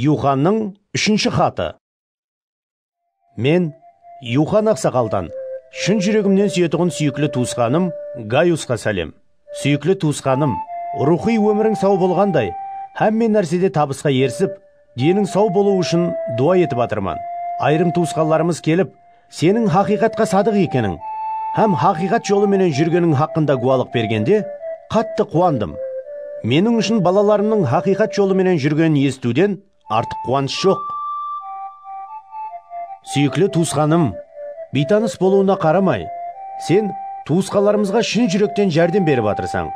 Yuxannıń úshinshi xatı. Men Yuxan aqsaqaldan shın júregimnen súyetuǵın súyikli tuwısqanım Gayusqa sálem. Súyikli tuwısqanım, ruwxıy ómiriń saw bolǵanday, hámme nársede tabısqa erisip, deniń saw bolıwı ushın duwa etip atırman. Ayırım tuwısqanlarımız kelip, Seniń haqıyqatqa sadıq ekeniń hám haqıyqat jolı menen júrgeniń haqqında gúwalıq bergende, qattı quwandım. Meniń ushın balalarımnıń haqıyqat jolı menen júrgenin esitiwden artıq quwanısh joq. Súyikli tuwısqanım, biytanıs bolıwına qaramay, sen tuwısqanlarımızǵa shın júrekten járdem berip atırsań.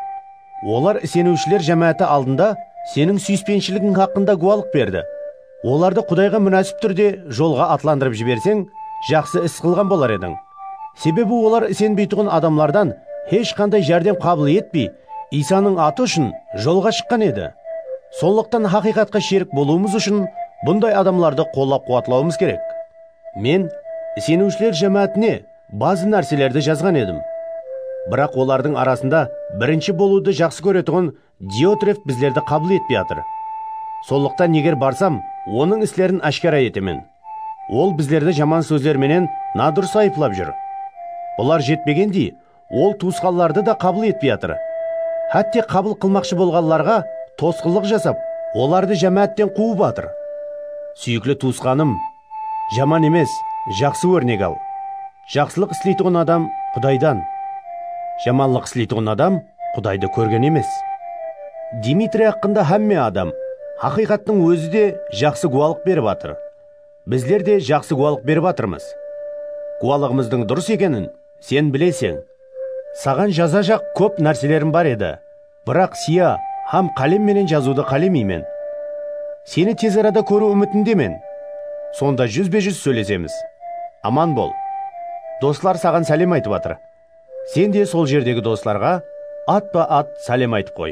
Olar iseniwshiler jámááti aldında seniń súyispenshiligin haqqında gúwalıq berdi. Olardı Qudayǵa múnásip túrde jolǵa atlandırıp jiberseń, jaqsı is qılǵan bolar ediń. Sebebi olar isenbeytuǵın adamlardan hesh qanday járdem qabıl etpey, Iysanıń atı ushın jolǵa shıqqan edi. Sonlıqtan haqıyqatqa sherik bolıwımız ushın bunday adamlardı qollap-quwatlawımız kerek. Men Iseniwshiler jámáátine bazı nárselerdi jazǵan edim. Biraq olardıń arasında birinshi bolıwdı jaqsı kóretuǵın Diotrev bizlerdi qabıl etpey atır. Sonlıqtan eger barsam, onıń islerin áshkara etemen. Ol bizlerdi jaman sózler menen nadurıs ayıplap júr. Bular jetpegendey, ol tuwısqanlardı da qabıl etpey atır. Hátte qabıl qılmaqshı bolǵanlarǵa tosqınlıq jasap, olardı jámáátten quwıp atır. Súyikli tuwısqanım, jaman emes, jaqsı órnek al. Jaqsılıq isleytuǵın adam Qudaydan, jamanlıq isleytuǵın adam Qudaydı kórgen emes. Dmitriy haqqında hámme adam, haqıyqattıń ózi de jaqsı gúwalıq berip atır. Bizler de jaqsı gúwalıq berip atırmız. Gúwalıǵımızdıń durıs ekenin sen bileseń. Saǵan jazajaq kóp nárselerim bar edi. Biraq siya hám qálem menen jazıwdı qálemeymen. Seni tez arada kóriw úmitindemen. Sonda júzbe-júz sóylesemiz. Aman bol. Doslar saǵan sálem aytıp atır. Sen de sol jerdegi doslarǵa atpa-at sálem aytıp qoy.